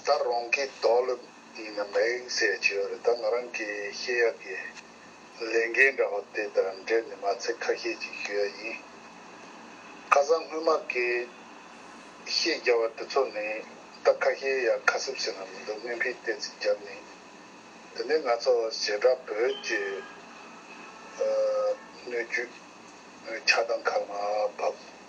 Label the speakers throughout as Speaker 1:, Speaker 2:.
Speaker 1: ད་རུང་གི་རྡོ་ལ་མ་ཡིན་ཟེར་གྱི་ཡོད་རེད་ད་ང་རང་གི་ཤེས་ཡག་གི་ལས་འགན་འདྲ་བོ་དེ་དང་འབྲེལ་ནས་མ་ཚད་ཁ་ཤས་ཅིག་ཞུ་ཡ་ཡིན། ཁ་སང་སྔོན་མ་དགེ་བཤེས་རྒྱ་བ་དེ་ཚོ་ནས་ད་ཁ་ཤས་ཡག་ཁ་སིབ་སིབ་ནང་མི་འདུག་སྨན་ཕིས་བལྟས་ཚིག་རྒྱབ་ནས་དེ་ནས་ང་ཚོ་བྱེ་བྲག་བོད་ཀྱི་སྣོད་བཅུད་ཆགས་སྡང་ཁ་ལ་མ་བབས།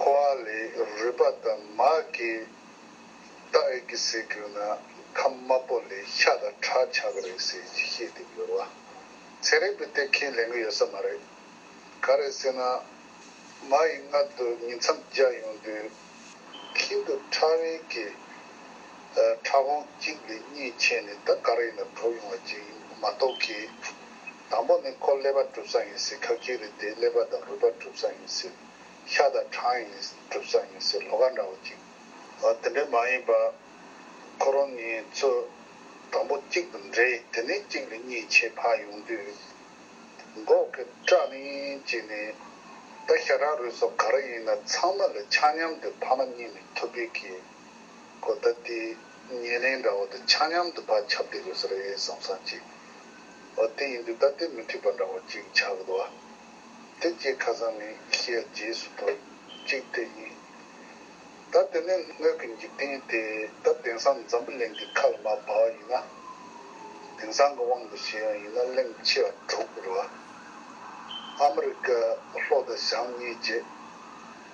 Speaker 1: ཁོ་བ་ལས་རུས་པ་དང་མ་གི་རྟ་ཨེ་གི་ཟེར་གྱུར་ན་ཁམས་དམར་པོ་ལས་ཤ་དང་ཁྲག་ཆགས་ཀྱི་རེད་ཟེར་གྱི་བཤད་དེ་འགྱུར་བ་ཚེ་རིང་པོའི་སྟེ་ཁས་ལེན་གྱི་ཡོད་ས་མ་རེད། ག་རེད་ཟེར་ན། མ་ཡི་མངལ་དུ་ཉིན་མཚམས་བརྒྱ་ཡོང་དུས་ཁྱིམ་དུ་ཁྲག་རིལ་གྱི་ཁྲག་སྒོང་གཅིག་ལས་གཉིས་ཆད་ནས་ད་ག་རེ་ཡིན་ན་གྲོགས་ཡོང་བ་གཅིག་ཡིན་མ་གཏོགས་ཀྱི། དང་པོ་ནི་ཁོ་ཀླད་པ་གྲུབ་ས་ཡིན་ཟེར་ཁག་གཅིག་རེད་དེ་ཀླད་པ་དང་རུས་པ་གྲུབ་ས་ཡིན་ཟེར་ཤ་དང་གྲང་ཡིན་གྲུབ་ཙམ་ཡིན་སའི་ལོ་ཁ་འདྲ་བོ་ཅིག་འོ་དེ་འདྲས་མ་ཡིན་པ། ཁོ་རང་ངེད་ཚོ་དང་པོ་གཅིག་ཏུ་འདྲེས་དེ་ནས་གཅིག་ལས་གཉིས་ཆེད་ཕར་ཡོང་དུས། འགོག་གི་སྐྲ་ལིང་བྱས་ནས་ད་ཤ་ཁྲག་རུས་སོགས་ག་རེ་ཡིན་ན་ཚང་མ་ལ་ཆ་མཉམ་དུ་ཕ་མ་གཉིས་ནས་ཐུབ་པའི་གི་གོ་ད་ལྟའི་ཉེ་གནས་འདྲ་བོ་དང་ཆ་མཉམ་དུ་ཕར་ཁྱབ་བསྡད་དགོས་ས་རེད་བསམ་སང་ཅིག་འོ་དེ་ཡིན་དུས་ད་ལྟའི་མི་འཁྲིག་པ་འདྲ་བོ་ཅིག་ཆགས་གི་འདུག་ཨ། དེ་རྗེས་ཁ་སང་ནས་ཤེས་ཡ་རྗེས་སུ་དོར་གཅིག་དེ་ཡིན། ད་དེ་ནི་སྣོད་ཀྱི་འཇིག་རྟེན་ཏེ་ད་དེང་སང་འཛམ་བུ་གླིང་གི་ཁ་ལ་མ་བབས་བ་ཡིན་ན། དེང་སང་གི་དབང་དུ་བྱས་ཡང་ཡིན་ན་གླིང་ཕྱི་བ་དྲུག་གི་རུ་བ། ཨ་མི་རི་ཀ་ལྷོ་དང་བྱང་གཉིས་བཅས།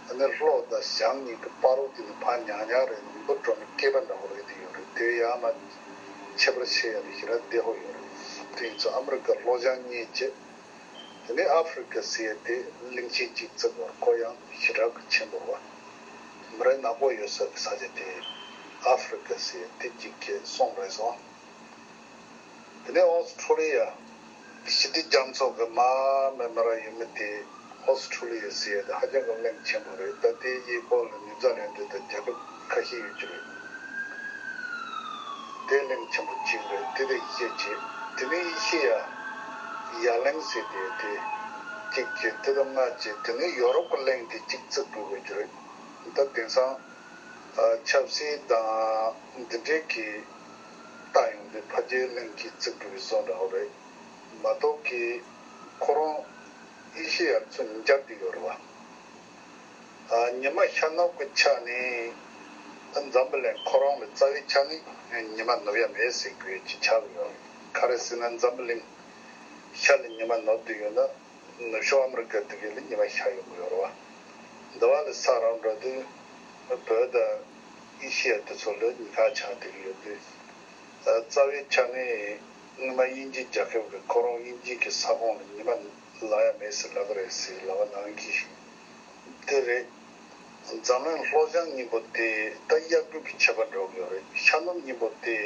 Speaker 1: ད་ནི་ལྷོ་དང་བྱང་གཉིས་ཀྱི་དཔའ་རོ་དེ་ནི་ཕ་ཉག་ཉག་རེད་ནི་འབུ་སྒྲོ་མི་སྐྱེས་པ་འདྲ་བོ་རེད་དེ་ཡོད་རེད་དེ་ཡ་མ་ཆེ་པར་ཤེས་ཡ་རེད་ཤི་ར་བདེ་ཧོ་ཡོད་རེད་དེ་ཡིན་ཚོད་ཨ་མི་རི་ཀ་ལྷོ་བྱང་གཉིས་བཅས། དེ་ནས་ཨ་ཧྥེ་རི་ཁའི་སི་ཨེ་ཏེ་གླིང་ཆེན་གཅིག་བརྩེགས་བར་སྐོར་གཡང་བཞི་བྲག་གི་ཆེན་པོར་བ་མི་རེ་ནག་པོ་ཡོད་སོགས་ཀྱི་ས་ཆ་དེ་ཨ་ཧྥེ་རི་ཁའི་སི་ཨེ་ཏེ་གཅིག་ཁྱེད་གསུངས་རེད་སོང། དེ་ནས་ཨོ་སི་ཁྲུ་ལི་ཡ་གི་ཞི་བདེ་རྒྱ་མཚོ་གི་མ་མེ་མེ་ར་ཡུལ་མི་དེ་ཨོ་སི་ཁྲུ་ལི་ཡའི་སི་ཨེ་ཏེ་ཧ་ཅང་གི་གླིང་ཆེན་པོ་རེད་ད་དེའི་གཡས་སྐོར་ལ་ནུས་རྩ་ལེན་འདོད་དང་རྒྱལ་ཁབ། ཁ་ཞེ་ཡོད་ཀྱི་རེད། བདེ་གླིང་ཆེན་པོ་གཅིག་རེད་དེ་དེ་ཡེ་ཤེས་ཀྱི་དེ་ནི་ཡེ་ཤེས་ཡ་ཡ་གླིང་ཟེར་གྱི་ཡོད་དེ། གཅིག་གི་དེ་དང་ལྔ་གཅིག་དེ་ནི་ཡོ་རོབ་ཀྱི་གླིང་དེ་གཅིག་བརྩི་དགོས་དགོས་ཀྱི་རེད། ད་དེང་སང་ཆབ་སྲིད་དང་འདི་འདྲས་ཀྱི་ལྟ་ཡོང་དུས་ཕ་རྒྱལ་གླིང་གཅིག་བརྩི་དགོས་པའི་བཟོ་འདྲ་བོ་རེད་མ་གཏོགས་ཀྱི་ཁོ་རང་ཡེ་ཤེས་ཡར་ཚུར་འཇགས་ཀྱི་ཡོད་རེད་བ། ཉི་མ་ཤར་ནུབ་ཀྱི་ཆ་ནས་འཛམ་བུ་གླིང་ཁོ་རང་ལ་རྩ་བའི་ཆ་ནས་ཉི་མ་ནུབ་ཡ་མེད་ཟེར་དགོས་ཀྱི་ཆ་ལ་ཡོད། ག་རེ་ཟེར་ན་འཛམ་བུ་གླིང་ཤར་ལ་ཉི་མ་ནུབ་ཏུ་ཡོད་ན་ནུབ་ཕྱོགས་ཨ་མི་རི་ཀ་དེ་གའི་ལ་ཉི་མ་ཤར་ཡོང་གི་ཡོད་རེད། འདི་བ་ལ་ས་རང་འགྲོ་དུས་བོད་དང་ཨེ་ཤི་ཡ་དེ་ཚོ་ལ་ཉི་ཁ་ཆག་དེ་གི་ཡོད་དུས། རྩ་བའི་ཆ་ནས་དངོས་མ་དབྱིན་ཇིའི་རྒྱལ་ཁབ་གི་ཁོ་རང་དབྱིན་ཇིའི་གི་ས་ཁོངས་ལ་ཉི་མ་ལ་ཡ་མེད་ཟེར་ལབ་པ་རེད་ཟེར་ལབ་པ་ནང་གི་དེ་རེད། འཛམ་གླིང་ལྷོ་བྱང་གཉིས་པོ་དེ་ད་གཡག་རྒྱུག་གི་བྱེད་པ་འགྲོ་གི་ཡོད་རེད་ཤར་ནུབ་གཉིས་པོ་དེ་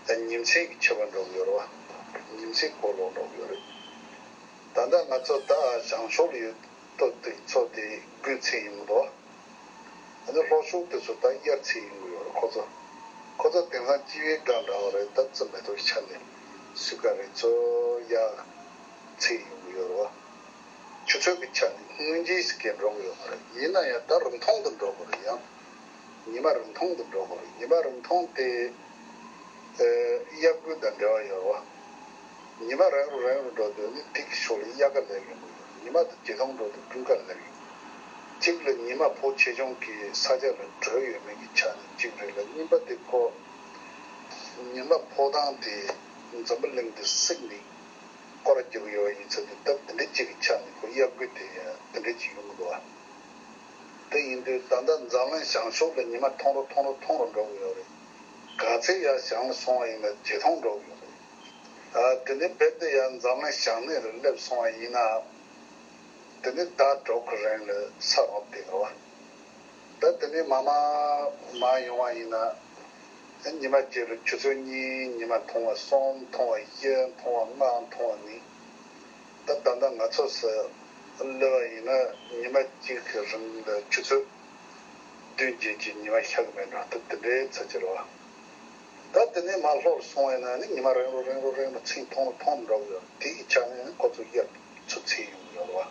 Speaker 1: ད་ཉིན་མཚན་གི་བྱེད་པ་འགྲོ་གི་ཡོད་རེད་བ་ཉིན་མཚན་གོ་ལོག་འགྲོ་གི་ཡོད་རེད། ད་ལྟ་ང་ཚོ་ད་བྱང་ཕྱོགས་ལ་ཡོད་དོ་དེ་ཚོ་དེ་དགུན་ཚེས་ཡིན་གི་འདུག་བ། ད་ནི་ལྷོ་ཕྱོགས་དེ་ཚོ་ད་དབྱར་ཚེས་ཡིན་གི་ཡོད་རེད་ཁོ་ཚོ་ཁོ་ཚོ་དེང་སང་སྤྱི་བའི་སྒང་འདྲ་བ་རེད་ད་ཙོ་མེ་ཏོག་གི་ཆ་ནས་སུས་ཀ་རེད་ཙོ་ཡ། ཚེ་ཡོང་ཡོད་རེད། ཆུ་ཚོད་ཀྱི་ཆ་ནས་སྔོན་རྗེས་སུ་སྐྱེལ་འགྲོ་གི་ཡོད་མ་རེད། ཡིན་ན་ཡང་ད་རིང་ཐུང་དུ་འགྲོ་དགོས་རེད་ཡ། ཉི་མ་རིང་ཐུང་དུ་འགྲོ་དགོས་རེད། ཉི་མ་རིང་ཐུང་དེ་དབྱར་དགུན་དང་འབྲེལ་བ་ཡོད་རེད། ཉི་མ་རང་རེ་རང་ཡུལ་འགྲོ་དུས་ནི་དུས་ཀྱི་ཕྱོགས་ལས་དབྱར་ཁ་ལེགས་ཡོང་གི་ཡོད་རེད། ཉི་མ་དང་དུས་ཐུང་འགྲོ་དུས་སྤྲུལ་ཁ་ལེགས་ཡོང་གི། གཅིག་ལ་ཉི་མ་ཕོ་ཆེ་ཆུང་གི་ས་ཆ་ལ་བྲོས་ཡོད་མེད་ཀྱི་ཆ་ནས་གཅིག་རེད་ལ་གཉིས་པ་དེ་ཕོ། ཉི་མ་ཕོ་ཐང་དེ་འཛམ་བུ་གླིང་དུ་བསྲེགས་འདུག། སྐོར་རྒྱག་གི་ཡོད་ཡིན་ཚུལ་དུ་སྟབས་འདི་འདྲའི་གཅིག་གི་ཆ་ནས་ཁོའི་གཡག་རྒོད་དེ་འདི་འདྲའི་གཅིག་ཡོང་གི་འདུག་ཨ། དེ་ཡིན་དུས་ད་ལྟ་འཛམ་གླིང་ཞང་ཞོགས་ལ་ཉི་མ་ཐུང་རོ་ཐུང་རོ་ཐུང་རོ་འགྲོ་གི་ཡོད་རེད། ག་ཚད་ཡར་ཞང་ལ་སོང་བ་ཡིན་ན་ཇེ་ཐུང་འགྲོ་གི་ཡོད་རེད། ཨ། དེ་འདྲའི་བེད་དེ་ཡར་འཛམ་གླིང་ཞང་སྣེ་རུ་སླེབས་སོང་བ་ཡིན་ནའང། དེ་འདྲའི་ཟླ་གྲོགས་ཁོ་རེང་ལ་ས་རོང་དེ་ག་བ། ད་དེ་ནས་མ་མ་མ་ཡོང་བ་ཡིན་ན། ཉི་མ་བརྒྱད་པའི་ཆུ་ཚོད་གཉིས་ཉི་མ་མཐོང་བ་གསུམ་མཐོང་བ་བཞི་མཐོང་བ་ལྔ་མཐོང་བ་ནི། ད་ད་ལྟ་ང་ཚོ་སུ་གློད་བ་ཡིན་ན་ཉི་མ་གཅིག་གི་རིང་ལ་ཆུ་ཚོད་བདུན་བརྒྱད་ཀྱི་ཉི་མ་ཤག་མེད་འགྲོ་ཐུབ་དེ་འདྲའི་ཚད་ཀྱི་རེད་བ། ད་དེ་ནས་མ་ལྷོར་སོང་བས་ན་ནི་ཉི་མ་རེང་རོ་རེང་རོ་རེང་རོ་ཚིག་མཐོང་རོ་མཐོང་མི་འགྲོ་གི་ཡོད་རེད་དེའི་ཆ་ནས་ཁོ་ཚོ་དབྱར་མཚོ་ཚེས་ཡོང་གི་ཡོད་རེད་བ།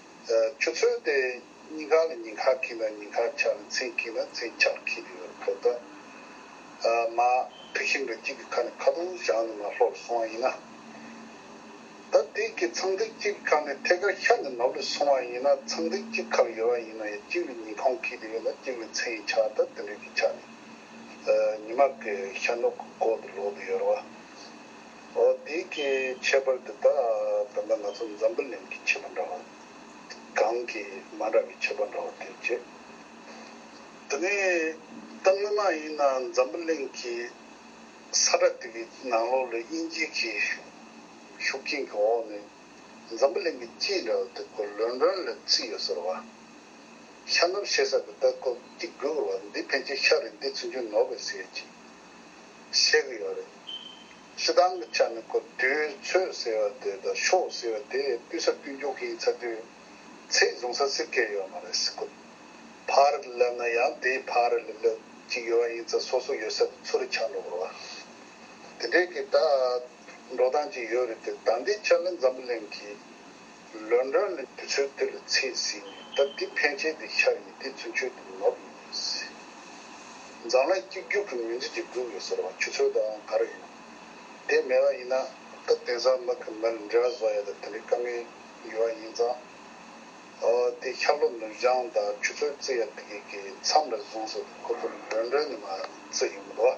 Speaker 1: ཆུ་ཚོད་དེ་གཉིས་ཁག་ལ་ཉིན་ཁག་གིས་ན་ཉིན་ཁག་ཆགས་ལ་མཚན་གྱིས་ན་མཚན་ཆགས་ཁེལ་གྱི་ཡོད་ཁོ་ཐག་མ། དེ་བཞིན་དུ་གཅིག་གི་ཁ་ནས་ཁ་དོག་ཞག་ནི་མ་ལྷོ་ལ་སོང་བ་ཡིན་ན། ད་དེས་ཀྱི་ཚངས་ཐིག་གཅིག་གི་ཁ་ནས་ཐད་ཀར་ཤར་ནས་ནུབ་ལ་སོང་བ་ཡིན་ན་ཚངས་ཐིག་གཅིག་ཁ་ལ་ཡོད་པ་ཡིན་ན་ཡང་གཅིག་ལ་ཉིན་གོང་ཁེལ་གྱི་ཡོད་ལ་གཅིག་ལ་མཚན་ཡི་ཆགས་ད་དེ་འདྲ་གི་ཆ་ནས་ཉི་མ་གི་ཤར་ནུབ་ཀྱི་སྐོར་དུ་ལོག་དུ་ཡོད་ར་བ། འདི་གི་ཁྱད་པར་འདི་དག་བོད་པ་ང་ཚོ་འཛམ་བུ་གླིང་གི་བྱིས་པ་འདྲ་བ་གང་གི་མ་འདྲ་བའི་བྱིས་པ་འདྲ་བ་དེ་བྱེད། འདི་ནི་ད་སྔོན་མ་ཡིན་ན་འཛམ་བུ་གླིང་གི་ས་ཁྲ་དེ་གི་ནང་ལོག་ལ་དབྱིན་ཇི་གི་ཤུགས་རྐྱེན་གི་འོག་ནས་འཛམ་བུ་གླིང་གི་སྤྱི་འདྲ་བ་དེ་སྐོར་ལོན་ལོན་ལ་བརྩིས་ཡོད་ཟེར་བ། ཤ་ནུབ་ཞེ་ས་གི་སྟག་ཁོག་གཅིག་དགོས་དགོས་བ་འདི་ཕན་ཆད་ཤ་རེད་འདི་ཚུན་ཆུད་ནོར་བས་ཟེར་གྱི་བཤད་གི་ཡོད་རེད། སྲིད་ཏང་གི་ཆ་ནས་སྐབས་དུས་ཚོད་ཟེར་བ་དེ་དང་ཕྱོགས་ཟེར་བ་དེ་སྤུས་ས་སྤུས་མགྱོགས་ཤིག་ཚ་དུས་ཚད་བཟུང་ས་སྲིད་སྐད་ཡོད་མ་རེད་སྲིད་སྐུད་ཕག་རི་ལ་སླེབས་ན་ཡང་དེའི་ཕག་རི་ལ་སླེབས་ཅིག་ཡོད་བ་ཡིན་ཚ་སོ་སོ་ཡོད་ས་དུ་ཚུར་རེ་ཆག་འགྲོ་དགོས་བ་དེ་འདྲས་ཀྱི་ད་འགྲོ་སྟངས་ཅིག་ཡོད་རེད་དེ་ད་འདི་ཕྱག་ལེན་འཛམ་བུ་གླིང་གི་ལོན་རང་ནི་དུས་ཚོད་དེ་ལ་ཚེས་ཟིན་ནས་སྟབས་བདེ་ཕན་ཆད་དེ་ཤར་ཡིན་དེ་ཚུན་ཆོད་དུ་ནོར་ཡོད་པ་ཡིན་སྲིད། མཛངས་ལ་གཅིག་གྱུར་གྱི་མིང་ཚིག་ཅིག་བསྒྲུབས་ཡོད་ཟེར་བ་ཆུ་ཚོད་དང་ག་རེ་ཡིན་ནམ། དེ་མེད་པ་ཡིན་ན་སྐབས་དེང་སང་མི་གི་མིར་འབྲི་ར་བཟོ་ཡ་ད་དེ་འདྲའི་དཀའ་ངལ་ཡོད་བ་ཡིན་ཙང། ཨོ་དེ་ཤར་ལོ་ནུབ་བྱང་དང་ཆུ་ཚོད་བརྩི་ཡ་དེ་གའི་མཚམས་རེ་ཟུང་སོགས་དུ་ཁོ་ཚོར་ལོན་རང་ནི་མ་བརྩི་ཡོང་གི་འདུག་ཨ།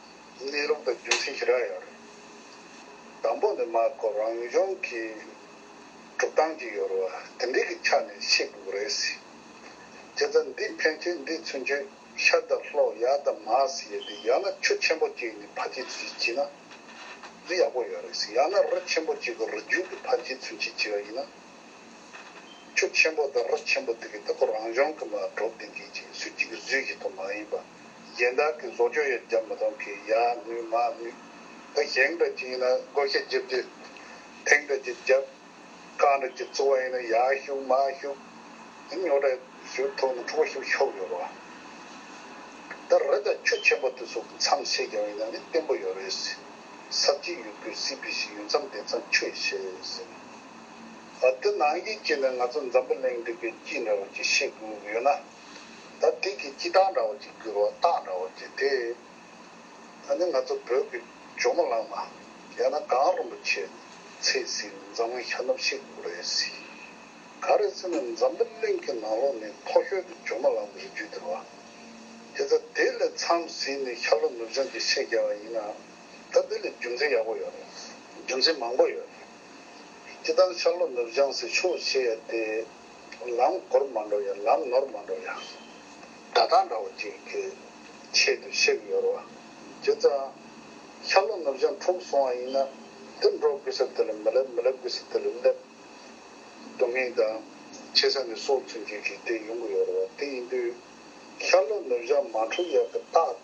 Speaker 1: གནས་ལུགས་དང་རྒྱུ་མཚན་ཞི་རགས་ཡོད་རེད། དང་པོ་ནི་མ་ཀོ་རང་གཞུང་གི་སྒྲུབ་སྟངས་ཀྱི་ཡོལ་བ་དེ་འདྲའི་གི་ཆ་ནས་བཤད་དགོས་རེད་སྲིད། དེ་ཚ་འདི་ཕན་ཆད་འདི་ཚུན་ཆོད་ཤར་དང་ལྷོ་ཡར་དང་མར་ཟེར་ཏེ་ཡང་ན་ཆུ་ཆེན་པོ་གཅིག་ནས་ཕར་ཆེ་ཚུན་ཆད་བྱེད་ན་རི་ཡག་པོ་ཡོད་རེད་སྲིད་ཡང་ན་རི་ཆེན་པོ་གཅིག་གི་རི་རྒྱུད་ཀྱི་ཕར་ཆེ་ཚུན་ཆད་བྱེད་པ་ཡིན་ན་ཆུ་ཆེན་པོ་དང་རི་ཆེན་པོ་དེ་གི་ད་ཀོ་རང་གཞུང་གི་མ་གྲོ་བདེ་འཇིགས་ཀྱིས་སུས་གཅིག་གི་བཟོས་བཞིན་དུ་མ་ཡིན་པ། གཞན་དག་གིས་བཟོ་བཅོས་ཡང་བརྒྱབ་མི་ཐོག་གིས་ཡ་ནུས་མ་ནུས་ད་གཞན་འདྲ་གཅིག་ཡིན་ན་བསྒོ་ཤ་བརྒྱབ་རྒྱུ། ཐེངས་འདྲ་གཅིག་བརྒྱབ། རྐང་འདྲ་གཅིག་བཙུགས་པ་ཡིན་ན་ཡ་ཤུགས་མ་ཤུགས། ད་ཉོ་གྲ་ཞུ་ཐུག་ནས་འཁྲུག་པ་ཤུགས་ཆོག་ཡོད་རེད། ད་རི་དྭགས་ཁྱུ་ཆེན་པོ་དེ་ཚོ་གི་མཚམས་བཤད་རྒྱག་ཡིན་ན་ནི་བརྟན་པོ་ཡོད་རེད། ཟབ་གཅིག་ཡོད་དགོས་སྲིད་པའི་ཞིག་ཡོད་མཚམས་དེ་མཚམས་ཁྱུ་ཡི་བཤད་ཟིན། འདི་ནང་གི་སྐྱིད་ནི་ང་ཚོ་འཛམ་བུ་གླིང་འདི་གི་སྐྱིད་འདྲ་བ་གཅིག་ཤེས་དགོས་ཡོད་ན། ད་དེ་གི་སྐྱིད་སྟངས་འདྲ་བོ་ཅིག་འགྱུར་བ་རྟགས་འདྲ་བོ་ཅིག་དེ་ད་ནི་ང་ཚོ་བོད་ཀྱི་ཇོ་མོ་གླང་མ་ཡང་ན་གངས་རིན་པོ་ཆེ་ཚེས་ཟིན་ནས་འཛམ་གླིང་ཤར་ནུབ་ཤེས་དགོས་རེད་ཟེར། ག་རེ་ཟེར་ནས་འཛམ་བུ་གླིང་གི་ནང་ལོགས་ནས་མཐོ་ཤོས་ཀྱི་ཇོ་མོ་གླང་མ་རིགས་རྒྱུད་དེ་བ། དེ་ཚ་དེ་ལས་མཚམས་ཟིན་ནས་ཤར་ལྷོ་ནུབ་བྱང་གི་ཤེས་རྒྱ་བ་ཡིན་ནའང་ད་དེ་ལས་རྒྱུ་མཚན་ཡག་པོ་ཡོད་རེད། རྒྱུ་མཚན་མང་པོ་ཡོད་རེད། སྐྱིད་སྟངས་ཤར་ལྷོ་ནུབ་བྱང་ཟེར་ཆོག་ཤེས་ཡ་དེ། ལམ་གོར་མ་འགྲོ་ཡ་ལམ་ནོར་མ་འགྲོ་ཡ། ད་ཐང་འདྲ་བོ་ཅིག་གི་ཆེད་དུ་བཤད་གི་ཡོད་རོ། རྒྱུ་མཚན། ཤར་ལྷོ་ནུབ་བྱང་འཁྲུག་སོང་བ་ཡིན་ན། འདིར་འགྲོ་དགོས་ས་དེ་ལ་མི་སླེབས་མི་སླེབས་དགོས་ས་དེ་ལ་སླེབས། སྡུག་བསྔལ་དང། ཆེ་ས་ནས་སོར་ཚུན་གྱི་རིགས་དེ་ཡོང་གི་ཡོད་རོ། དེ་ཡིན་དུས། ཤར་ལྷོ་ནུབ་བྱང་མ་འཁྲུག་ཡ་གི་རྟགས།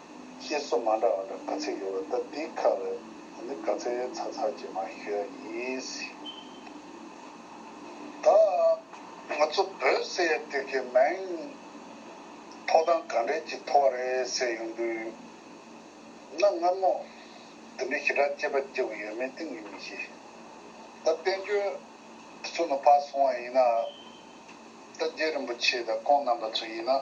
Speaker 1: ཞེས་སོགས་མ་འདྲ་བ་འདྲ་ག་ཚད་ཡོད་པ་ལྟ་འདི་ཁ་བའི་ད་ནི་ག་ཚད་ཡོད་ཚ་ཚ་ཅེས་མ་ཤོད་ཡ་ཡིན་སྲིད། ད་ང་ཚོ་བོད་ཟེར་ཡ་དེ་གའི་མིང་ཐོག་དང་ག་འདྲེས་ཀྱི་ཐོག་བ་རེད་ཟེར་ཡོང་དུས་ན་མངར་མོ་འདི་འདྲེ་ཞེ་དྲག་ཅེས་པ་སྐྱེ་བོ་ཡོད་མེད་ཏིང་ངེ་མི་ཤེས། ད་བསྟན་བཅོས་འདི་ཚོ་ནུབ་ཕག་སོང་བ་ཡིན་ན། ད་རྗེ་རིན་པོ་ཆེ་དང་ཀོང་རྣམ་པ་ཚོ་ཡིན་ན།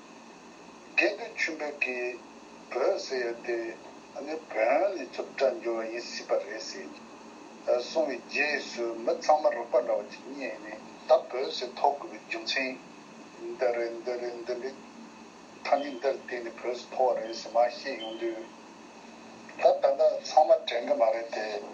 Speaker 1: སྐད་འདི་ཆུ་འབོད་ཀྱི་བོད་ཟེར་ཡོད་དེ། འདི་བོན་ལས་བཙུགས་གྲྭ་འགྱུར་བ་ཡིན་སྲིད་པ་རེད་ཟེར་གསུངས་བའི་རྗེས་སུ་མི་ཚང་མ་རོགས་པ་འདྲ་བོ་ཅིག་རྙེད་ནས་ད་བོད་ཟེར་ཐོགས་དགོས་པའི་རྒྱུ་མཚན་འདི་རེད་འདི་རེད་འདི་འདྲའི་ཐ་སྙད་འདིར་བརྟེན་ནས་བོད་ཟེར་ཐོགས་བ་རེད་ཟེར་མ་བཤད་ཡོང་དུས། ད་ད་ལྟ་ཚང་མ་དྲན་གི་མ་རེད་དེ།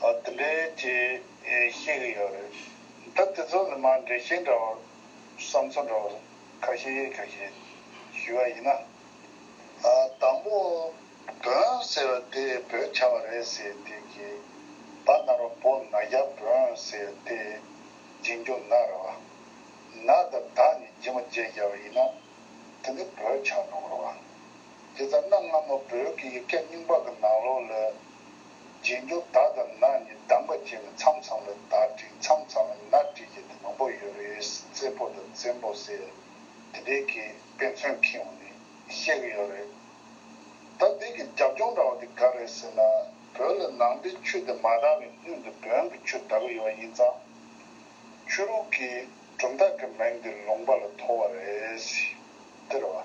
Speaker 1: འདི་འདྲའི་རྗེས་ཤེས་ཀྱི་ཡོད་རེད། ད་དེ་ཚོ་ལ་མ་འགྲེལ་བཤད་འདྲ་བར་བསམ་ཚུལ་འདྲ་བར་ཁ་ཤས་གཡས་ཁ་ཤས་ཞུས་པ་ཡིན་ན། དང་པོ་བོན་ཟེར་བ་དེ་བོད་བྱ་བ་རེད་ཟེར་དེ་གི་བ་ནར་བ་པོ་ན་རྒྱ་བོན་ཟེར་དེ་རྗེས་འཇུག་ན་ར་བ་ན་ད་ད་ནི་རྗེས་མ་རྗེས་བྱ་བ་ཡིན་ན་དེ་ནི་བོད་བྱ་ནོར་བ་དེ་ཚ་ན་སྔ་མོ་བོད་ཀྱི་ཡིག་བརྒྱ་རྙིང་པ་གི་ནང་ལོག་ལ། རྗེས་འཇུག་ད་དང་ན་གཉིས་གདམ་ག་བྱས་ནས་མཚམས་ཚང་བའི་ད་བྲིས་མཚམས་ཚང་བའི་ན་བྲིས་བྱས་ཏེ་མང་པོ་ཡོད་རེད་བཙད་པོ་དང་བཙན་པོ་ཟེར་དེ་འདྲའི་གི་དཔེ་མཚོན་ཁེངས་བ་ནི་ཤེས་གི་ཡོད་རེད། ད་འདི་གི་རྒྱབ་ལྗོངས་འདྲ་བ་དེ་ག་རེད་ཟེར་ན་བོད་ལ་ནང་པའི་ཆོས་དེ་མ་དར་བའི་སྔོན་དུ་བོན་གྱི་ཆོས་དར་གི་ཡོད་པ་ཡིན་ཙང་ཆོས་ལུགས་ཀྱི་གྲུབ་མཐའ་གི་མིང་དེ་ལུང་པ་ལ་ཐོགས་བ་རེད། དེར་བ།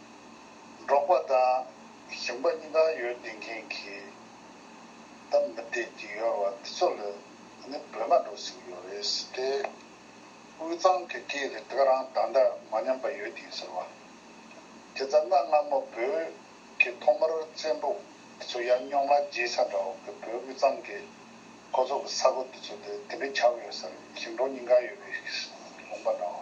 Speaker 1: འགྲོགས་པ་དང་ཞིང་པ་གཉིས་ཀ་ཡོད་ལྡན་མཁན་གྱི་ད་མི་བདེ་སྐྱིད་ཡོར་བ་འདི་ཚོ་ལས་ནི་བོད་མ་འགྲོ་ཟིག་ཡོད་རེད་ཟེར་ཏེ། དབུས་གཙང་གི་སྐད་རེ་དག་རང་ད་ལྟ་མ་ཉམས་པ་ཡོད་ཀྱིས་ཟེར་བ། དེ་ཙམ་ན་སྔ་མོ་བོད་ཀྱི་ཐོག་མར་བཙན་པོ་འདི་ཚོ་ཡར་རྙོག་ལ་རྗེས་ས་འདྲ་བོ་གི་བོད་དབུས་གཙང་གི་ཁོ་ཚོ་གི་ས་གོ་འདི་ཚོ་དེ་འདི་འདྲ་ཆགས་ཡོད་ཟེར་ཞིང་འབྲོག་གཉིས་ཀ་ཡོད་པའི་ལུང་པ་འདྲ་བོ།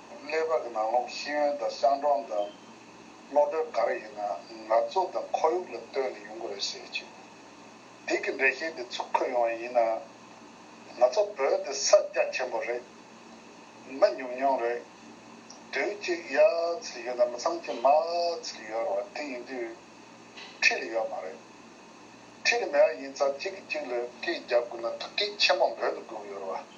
Speaker 1: ཀླད་པ་གི་ནང་ལོགས་ཤེས་ཡོན་དང་གསང་གྲོང་དང་ཀློག་དེབ་ག་རེ་ཡིན་ན་ནག་ཚོགས་དང་ཁོར་ཡུག་ལ་ལྟོས་ནས་ཡོང་གི་རེད་ཟེར་གྱི་འདུག་དེ་གི་འགྲེལ་བཤད་དེ་ཚུར་འཁོད་ཡོང་བ་ཡིན་ན། ང་ཚོ་བོད་དེ་ས་སྐྱ་ཆེན་པོ་རེད། མི་ཉུང་ཉུང་རེད། དུས་གཅིག་ཡ་ཚིག་ཡོད་ན་མི་ཚང་གཅིག་མ་ཚིག་ཡོད་རེད་བ་དེ་ཡིན་དུས་ཁྲི་ལ་ཡོད་མ་རེད། ཁྲི་ལ་མེད་བ་ཡིན་ཚ་གཅིག་གི་གཅིག་ལ་སྐད་རྒྱབ་དགོས་ན་ཐུགས་ཁྲལ་ཆེན་པོ་འབོད་དུ་དགོས་གི་ཡོད་རེད་བ།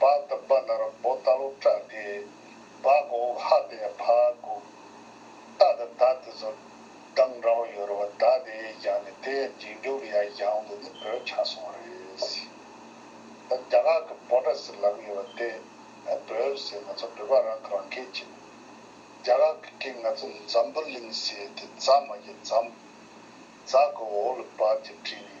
Speaker 1: བྃ་དུ་བྃ་ནར་བོ་ལྟ་ལོག་ཏྲྃ་བརྒྱད། བྃ་གོ་འོག་ཧྃ་དེ་ཕྃ་དགུ། ཏྃ་དང་དྃ་དེ་ཚོ་གདངས་འདྲ་བོ་ཡོད་རེད་བ་དྃ་དེ་ཡས་ཀྱང་ནི་དེ་ཡས་འབྱིན་རྒྱུ་ལ་ཡ་ཡང་དུ་ནི་བོད་ཆགས་སོང་བ་རེད། ད་རྒྱ་གར་གི་བོ་ཏྲ་ཟེར་ལབ་ཀྱི་ཡོད་བ་དེ་བོད་ཟེར་ང་ཚོ་བོད་པ་རང་གི་རང་སྐད་ཅིག་རྒྱ་གར་གི་སྐད་ང་ཚོ་འཛམ་བུ་གླིང་ཟེར་དེ་རྫ་མ་ཡི་འཛམ། རྫ་གོ་འོག་ལ་བྃ་གྱི་བྲིས་ནས།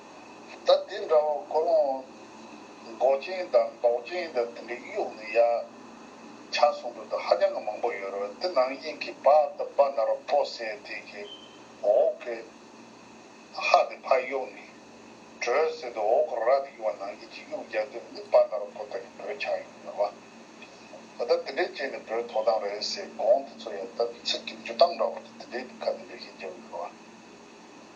Speaker 1: ད་དེ་འདྲ་བ་ཀོ་ལོང་མགོ་ཅན་དང་མདོག་ཅན་དང་དེ་འདྲའི་གཡུག་ནས་ཡ་ཆ་གསུང་འདོད་དུ་ཧ་ཅང་གི་མང་པོ་ཡོད་རེད་དེ་ནང་བཞིན་གྱི་བ་ད་བ་ན་རོ་པོ་སེ་དེ་གི་འོག་གི་ཧ་དེ་ཕར་གཡུག་ནས་བྲོས་ཟེར་དུ་འོག་གི་ར་དེ་གཡུག་བ་ནང་བཞིན་གྱི་གཡུག་རྒྱག་དུས་འདི་བ་ན་རོ་པོ་ད་གི་བོད་ཆགས་ཡོད་ཡོད་བ་ད་ད་དེ་འདྲའི་བྱས་ནས་བོད་ཐོག་དང་རེད་ཟེར་དགོངས་དེ་ཚོ་ཡ་ད་ཚིག་གི་འཇུ་སྟངས་འདྲ་བོ་དེ་དེ་འདྲའི་ཁ་དེ་འདྲའི་ཞིག་རྒྱབ་ཡོད་རེད་བ།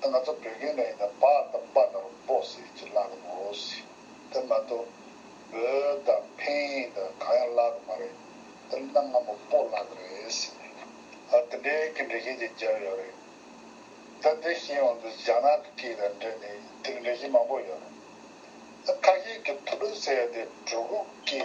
Speaker 1: ད་ང་ཚོ་བོད་སྐད་ནས་ཡིན་ན་བག་དང་སྤ་དང་སྦོ་ཟེར་གྱི་བཀླག་གི་འོ་སི་དེ་མ་གཏོགས་བོ་དང་ཕིན་དང་གང་ཡང་བཀླག་གི་མ་རེད་དེ་མིན་ན་སྔ་མོ་སྤོ་བཀླག་གི་རེད་སི་ཨ་དེ་འདྲའི་སྐད་འབྲི་མཁན་གྱི་རྒྱབ་ཡོད་རེད་ད་དེ་བཞིན་འོང་དུས་རྒྱ་ནག་གི་སྐད་དང་འབྲེལ་ནས་དེ་འདྲི་མཁན་མང་པོ་ཡོད་རེད་ད་ཁ་ཤས་ཀྱི་ཐུ་ལུ་ཟེར་ཡ་དེ་གྲུ་གུ་སྐད་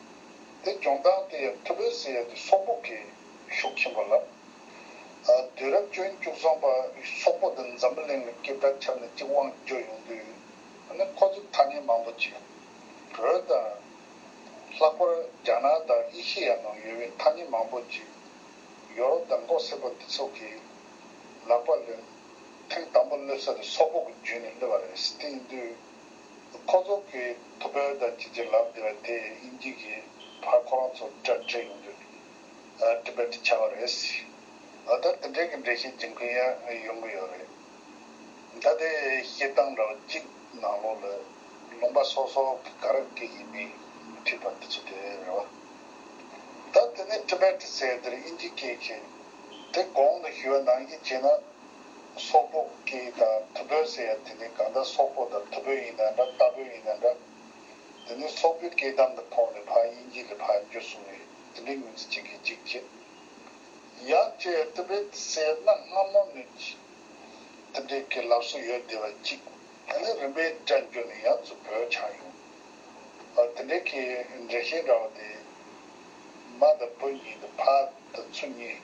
Speaker 1: དེ་སྦྱོང་སྟངས་དེ་ཡང་ཐུ་བྷེ་ཟེར་ཡ་དེ་སོག་པོ་གིས་ཤུགས་ཆེན་པོ་ལབ། དུས་རབས་བཅུ་བཅུ་གསུམ་པ་སོག་པོ་དེ་འཛམ་བུ་གླིང་ལ་སྐྱེས་པའི་ཁྲབ་ནས་གཅིག་དབང་བསྒྱུར་ཡོང་དུས་ནི་ཁོ་ཚོས་ཐ་སྙད་མང་པོ་བྱས། བོད་དང། ལྷག་པར་རྒྱ་ནག་དང་ཨེ་ཤེ་ཡ་ནང་ཡོད་པའི་ཐ་སྙད་མང་པོ་བརྗེས། ཡོ་རོབ་དང་མགོ་སེར་པོ་འདི་ཚོ་གིས་ལག་པ་བླུན། ཐེངས་དང་པོ་བསླུས་ས་དེ་སོག་པོ་གི་རྒྱུད་ནས་བསླུས་པ་རེད་སྟེ་དུས། ཕོ་རྫོང་གི་ཐུ་བེར་དང་བཅས་ཀྱི་ལམ་འདི་ར་དེ་དབྱིན་ཇི་གི་བར་ཁོ་རང་ཚོར་སྐྲ་བྲེག་ཡོང་དུས Tibet བྱ་བ་རེད། ད་ལྟ་དེ་འདྲའི་གི་འགྲེལ་བཤད་སྦྱིན་མཁན་ཡང་ཡོང་གི་ཡོད་རེད། ད་དེ་བཤད་སྟངས་འདྲ་བ་གཅིག་ནང་ལོགས་ལ་ལུང་པ་སོག་སོག་གི་ག་རང་གི་ཡིན་མིན་མི་འཁྲིད་པ་འདི་ཚོ་དེ་རེད་བ། ད་དེ་ནས Tibet ཟེར་དེར་དབྱིན་ཇི་སྐད་གི་དེ་གོང་དུ་ཞུས་བ་ནང་བཞིན་བྱས་ན། སོག་པོ་ཀྱི་དང་ཐུ་བོད་ཟེར་ཡ་དེ་ནི་གང་ལྟར་སོག་པོ་དང་ཐུ་བོད་ཡིན་ན་འདྲ་རྟ་བོད་ཡིན་ན་འདྲ། འདི་ནི་སོག་པོའི་སྐད་གདམ་དུ་ཕོག་ནས་ཕ་དབྱིན་ཇི་ལས་ཕ་འགྱུར་སོང་བས་འདི་འདྲའི་ངོས་འཛིན་བྱེད་མཁན་གཅིག་རྗེས་ཡག་ཅེས་ཐུ་བོད་ཟེར་ན་སྔ་མོ་ནས་འདི་འདྲའི་སྐད་ལབ་སྲོལ་ཡོད་བསྡད་པ་གཅིག་ད་ནི་རིམ་པས་འདྲ་འགྱུར་ནས་ཡང་ཚུར་བོད་ཆགས་ཡོང་བ་དེ་འདྲའི་སྐད་འགྲེལ་བཤད་འདྲ་བ་དེ། མ་དང་བུ་གཉིས་དང་ཕ་དང་ཚུ་གཉིས།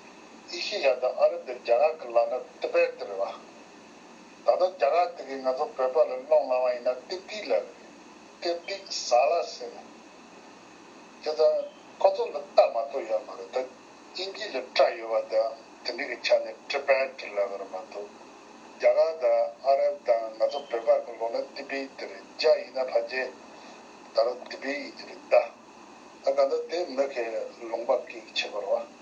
Speaker 1: ཨེ་ཤི་ཡ་དང་ཨ་རབ་པའི་རྒྱ་གར་གྱི་ལག་ན་ཏི་པད་ཏི་རེད་བ། ད་ལྟ་རྒྱ་གར་དེ་གས་ང་ཚོ་བོད་པ་ལ་སློང་བླང་བ་ཡིན་ན་ཏིབ་ཏིག་ལ་རེད། ཏིབ་ཏིག་བཟའ་ལ་ཟེར་ནས། དེ་ད་ཁོ་ཚོ་ལ་བལྟ་མ་གཏོགས་ཡོད་མ་རེད་ད་དབྱིན་ཇི་ལ་བཀྲ་ཡོད་བ་དང་དེ་འདྲས་ཀྱི་ཆ་ནས་ཏི་པད་ཏི་ལ་བར་མ་གཏོགས། རྒྱ་གར་དང་ཨ་རབ་དང་ང་ཚོ་བོད་པ་གྱི་ལོག་ན་ཏི་པི་ཏི་རེད་རྒྱ་ཡིན་ན་ཕ་རྗེ་ད་ར་ཏི་པི་ཏི་རེད་ད། ད་ག་འདྲ་དེ་མི་གས་ལུང་པ་གིས་བྱེད་པར་བ།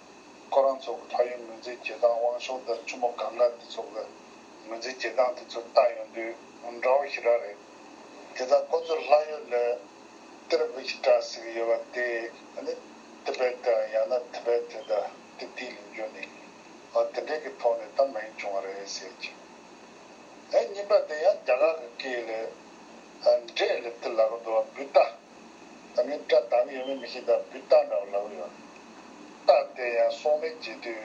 Speaker 1: ཁོ་རང་ཚོ་གི་ཕ་ཡུལ་ངོས་འཛིན་བྱེད་སྟངས་དབང་ཤོག་དང་ཆུ་མོ་གངྒ་འདི་ཚོ་གི་ངོས་འཛིན་བྱེད་སྟངས་དེ་ཚོ་ལྟ་ཡོང་དུས་འདྲ་བོ་ཞིག་རག་རེད། དེ་ལྟར་ཁོ་ཚོར་ལྷ་ཡུལ་ལས་གཏེར་བུ་ཞིག་གྲགས་ཟིག་ཡོད་པ་དེ་ནི Tibet དང་ཡང་ན Tibet དང་ཏི་ཏིའི་ལུང་རྒྱུན་ནི་འོ་དེ་འདྲས་ཀྱི་ཐོག་ནས་ད་མ་ཡིན་བྱུང་བ་རེད་ཟེར་ཅིང། ཨེ་སྙིང་པ་དེ་ཡང་རྒྱ་གར་གྱི་སྐད་ལས་འབྲས་ལས་ཏི་ལ་གི་འདུ་བ་འབུད་ལྟ། ད་མིན་སྐྲ་གདངས་ཡོད་མེད་མི་ཤེས་ད་བུད་སྟག་འདྲ་བོ་ལ་འུར་ཡོང། སྟག་དེ་ཡང་སོང་མེད་བརྗེད་དུས་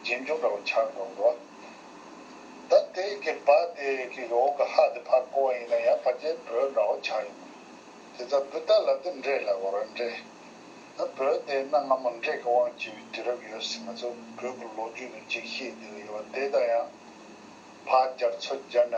Speaker 1: རྗེས་འཇུག་འདྲ་བོ་ཆགས་འགྲོ་འགྲོ། ད་དེ་གི་བ་དེ་གི་འོག་གི་ཧ་དེ་ཕར་བསྐོར་བ་ཡིན་ན་ཡང་བ་རྒྱལ་བོད་འདྲ་བོ་ཆགས་ཡོང། དེ་ད་བུད་སྟག་ལ་དེ་འདྲས་ལ་འུར་བ་འདྲས། ད་བོད་དེ་གནའ་སྔ་མོ་འདྲས་གི་དབང་བྱེད་པའི་དུས་རབས་ཡོད་སྲིད་ང་ཚོ་བོད་གི་ལོ་རྒྱུས་ནས་ཅིག་ཤེས་བསྡད་གི་ཡོད་བ་དེ་ད་ཡང་བ་རྒྱར་ཚོད་བརྒྱར་ན།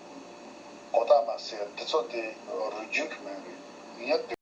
Speaker 1: དགོས་རྟགས་མ་ཟད་འདི་ཚོ་དེ་རུ་བརྒྱུད་ཀྱི་མེད་རེད། ངས་བལྟས།